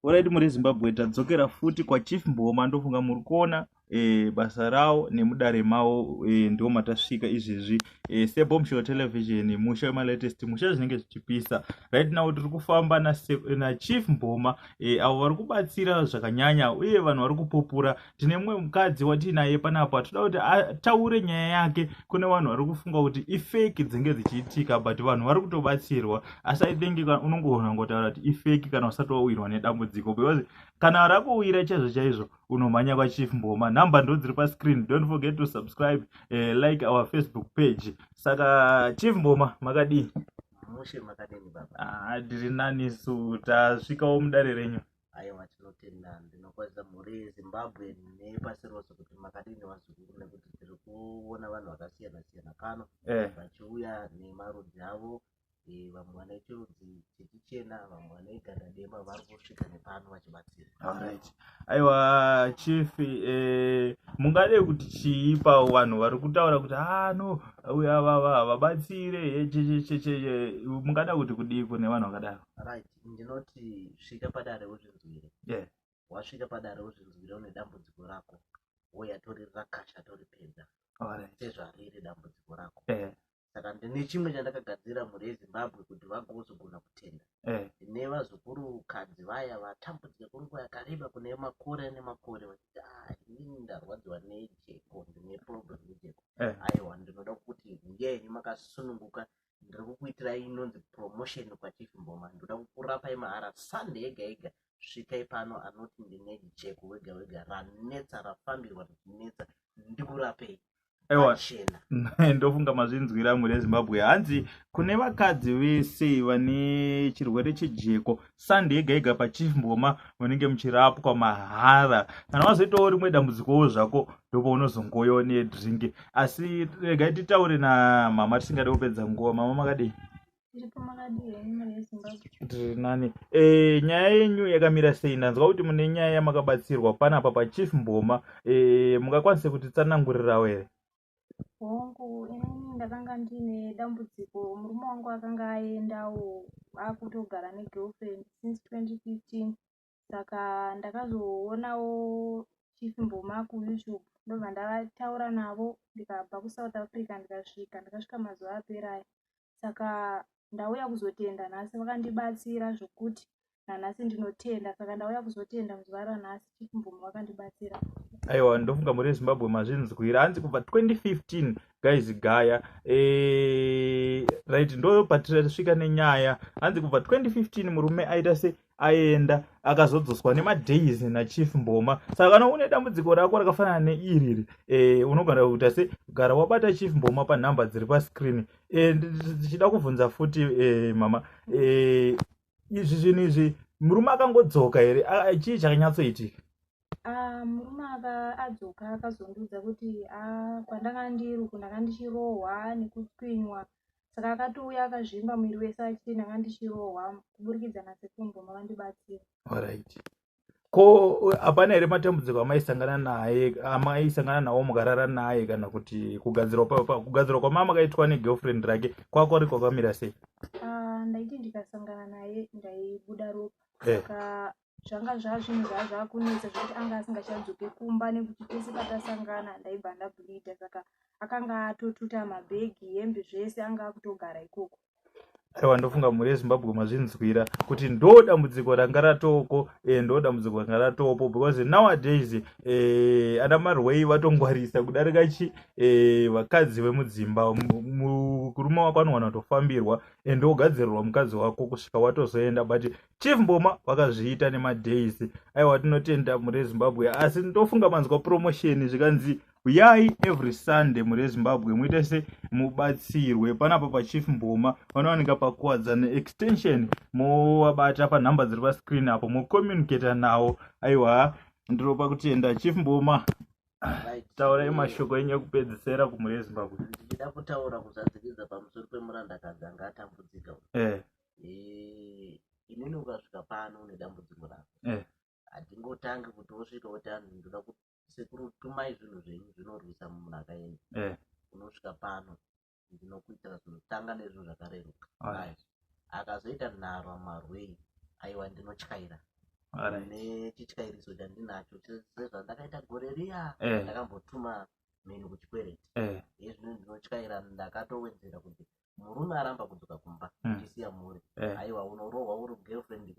Alright muri Zimbabwe tadzokera futi kwa Chief Mboma ndofunga muri kuona e, basa rawo nemudare mawo e, eh, ndiwo matasvika izvezvi e, eh, sebomshore television musha wemalatest musha zvinenge zvichipisa right now tiri kufamba na, na Chief Mboma e, avo vari kubatsira zvakanyanya uye vanhu vari kupupura tine mumwe mukadzi watiinaye panapa tinoda kuti ataure nyaya yake kune vanhu vari kufunga kuti ifeki dzinge dzichiitika but vanhu vari kutobatsirwa asi i think unongoona ngotaura kuti ifeki kana usati wawirwa nedambudziko because kana rakuwira chaizvo chaizvo unomhanya kwachief mboma nhamba ndo dziri pascreen don't forget to subscribe uh, like our facebook page saka chief mboma makadii mushe makadini baba ah, tiri nani su tasvikawo mudare renyu aiwa tinotenda ndinokwazisa mhuri yezimbabwe nepasi rose kuti makadini vazukuru nekuti tiri kuona vanhu vakasiyana siyana pano eh. vachiuya nemarudzi avo eh, vamwe vane chirudzi chechichena vamwe vane ganda dema vari kusvika nepano vachibatsira right. aiwa chief eh, mungade kuti chii pavo vanhu vari kutaura kuti hano ah, uya vava havabatsire eh, chechecheche eh, mungada kuti kudii kune vanhu vakadaro right. ndinoti svika padare uzvinzwire yeah. wasvika padare uzvinzwire une dambudziko rako woya toririra kasha toripedza sezvariri dambudziko rako yeah. saka ndine chimwe chandakagadzira mhuri yezimbabwe kuti vagozogona kutenda yeah. ndine vazukuru kadzi vaya vatambudzika kwenguva yakareba kune makore ane makore vachiti ah, inini ndarwadziwa nejeko ndine problem nejeko yeah. aiwa ndinoda kuti ngenyu makasununguka ndiri kukuitirai inonzi promotion kwachief mboma ndoda kukurapai mahara sunday yega yega svikai pano anoti ndine jeko wega wega ranetsa rafambirwa richinetsa ndikurapei aiwa ndofunga mazvinzwira amwe rezimbabwe hanzi kune vakadzi vese vane chirwere chejeko sande yega yega pachief mboma munenge muchirapwa mahara kana wazoitawo rimwe dambudzikowo zvako ndopaunozongoyo nedrink asi regai titaure namama tisingade kupedza nguva mama makadii tiri nani e, nyaya yenyu yakamira sei ndanzwa kuti mune nyaya yamakabatsirwa panapa pachief mboma e, mungakwanise kutitsanangurirawo here hongu inini ndakanga ndiine dambudziko murume wangu akanga aendawo akutogara negirlfriend since 2015 saka ndakazoonawo chief mboma kuyoutube ndobva ndavataura navo ndikabva kusouth africa ndikasvika ndakasvika mazuva apera aya saka ndauya kuzotenda nhasi vakandibatsira zvokuti nanhasi ndinotenda saka ndauya kuzotenda muzuva ranhasi chief mvumo vakandibatsira aiwa ndofunga mhuri yezimbabwe mazvinzwira hanzi kubva 2015 guys gaya eh, right ndo patitasvika nenyaya hanzi kubva 2015 murume aita se aenda akazodzoswa nemadays nachief mboma saka kana une dambudziko rako rakafanana neiriri e, unogara kuita se gara wabata chief mboma panhamba dziri pascreen e, eh, ndichida kubvunza futi e, mama e, izvi zvinhu izvi murume akangodzoka here chii chakanyatsoitika ah, murume aka adzoka akazondiudza kuti ah, kwandanga ndiri uku ndanga ndichirohwa nekutwinywa saka akatouya akazvimba muviri wese achiti ndanga ndichirohwa kuburikidza nasekumbo mavandibatsira orit ko hapana here matambudziko amaisangana naye amaisangana nawo mukarara naye kana kuti kugadzirwa kwamama kaitwa negirlfriend rake kwakwari kwakamira sei ah, ndaiti ndikasangana naye ndaibuda ropa eh. saka zvanga zvazvinhu zvaa zvakunetsa zvekuti anga asingachadzoke kumba nekuti tese patasangana ndaibva ndabulida saka akanga atotuta mabhegi hembe zvese anga akutogara ikoko aiwa ndofunga mhuri yezimbabwe mazvinzwira kuti ndo dambudziko ranga ratoko e, ndo dambudziko ranga ratopo because nowadays e, ana marwei vatongwarisa kudarika chi e, vakadzi vemudzimba murume wako anowana kutofambirwa and ogadzirirwa mukadzi wako kusvika watozoenda but chief mboma vakazviita nemadays aiwa tinotenda mhuri yezimbabwe asi ndofunga manzwa promotion zvikanzi huyai every sunday muri ezimbabwe muite se mubatsirwe panapa pachief mboma vanowanika pakuwadza neextension movabata panhamba dziri pascreen apo mocommunicata nawo aiwa ndiropa kutenda chief mboma taurai mashoko enyu ekupedzisera kumhuri yezimbabwe ndichida kutaura kuzadzikidza pamusoro pemurandakadzi anga atambudzika eh. eh, inini ukasvika pano une dambudziko rako eh. handingotangi kuti wosvika woti anhu ndoda kuti sekuru tumai zvinhu zvenyu zvinorwisa munhu akaenda eh. unosvika pano ndinokuitira zvinhu tanga nezvinhu zvakareruka akazoita nharo marwei aiwa ndinotyaira nechityairiso chandinacho sezvandakaita gore riya eh. ndakambotuma mheni kuchikwereti eh. ezvino ndinotyaira ndakatowedzera kuti murume aramba kudzoka kumba hmm. ndisiya mhuri aiwa unorohwa uri girlfriend